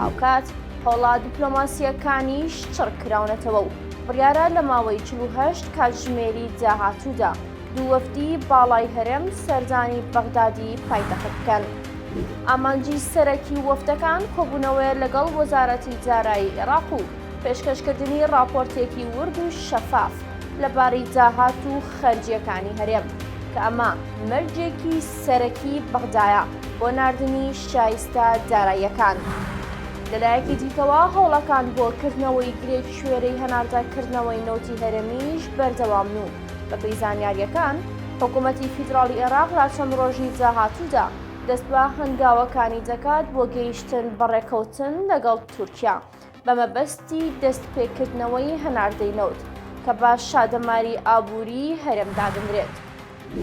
هاوکات هەوڵە دیپلۆماسییەکانیش چڕ کراونەتەوە و بڕیارە لە ماوەی چل و هەشت کاتژمێری داهاتوودا دوو وەفدی باڵای هەرێم سەردانی بەغدادی پایتەخت بکەن. ئامانجی سەرەکی وەفدەکان کۆبوونەوەیە لەگەڵ وەزارەتی دارایی عێراق و پێشکەشکردنی ڕاپۆرتێکی ورد و شەفاف لەبارەی داهات و خەرجییەکانی هەرێم کە ئەمە مەرجێکی سەرەکی بەغدایە بۆ ناردنی شایستە داراییەکان. لەلایەکی دیکەوە، هەوڵەکان بۆ کردنەوەی گرێکشوێرەی هەناردەکردنەوەی نەوتی هەرێمیش بەردەوامن و بەپێی زانیارییەکان، حکوومەتی فیدراڵی عێراق لە چەند ڕۆژی داهاتوودا دەست بە هەنگاوەکانی دەکات بۆ گەیشتن بە ڕێککەوتن لەگەڵ تورکیا بە مەبەستی دەستپێکردنەوەی هەناردەی نەوت کە بە شادەماری ئابووریی هەرێم دادەنرێت.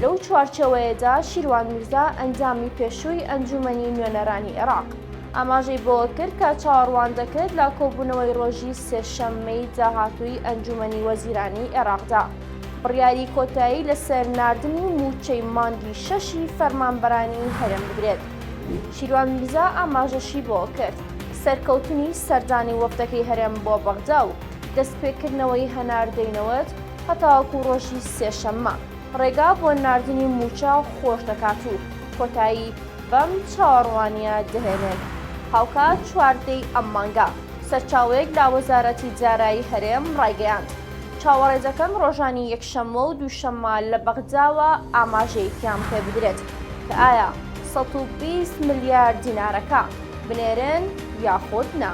لەو چوارچێوەیەدا شیروان میرزا ئەندامی پێشووی ئەنجوومەنی نوێنەرانی عێراق ئاماژەی بەوە کرد کە چاوەڕوان دەکرێت لە کۆبوونەوەی ڕۆژی سێشەممەی داهاتووی ئەنجوومەنی وەزیرانی عێراقدا بڕیاری کۆتایی لەسەر ناردنی مووچەی مانگی شەشی فەرمانبەرانی هەرێم بدرێت. شیروان میرزا ئاماژەشی بەوە کرد، سەرکەوتنی سەردانی وەفدەکەی هەرێم بۆ بەغدا و دەستپێکردنەوەی هەناردەی نەوت هەتاوەکو ڕۆژی سێشەممە ڕێگا بۆ ناردنی مووچە خۆش دەکات و کۆتایی بەم چاوەڕوانییە دەهێنێت. هاوکات چواردەی ئەم مانگە، سەرچاوەیەک لە وەزارەتی دارایی هەرێم ڕایگەیاند، چاوەڕێ دەکەن ڕۆژانی یەکشەممە و دووشەممە لە بەغداوە ئاماژەیەکیان پێبدرێت کە ئایا سەد و بیست ملیار دینارەکە، بنێرن یاخود نا.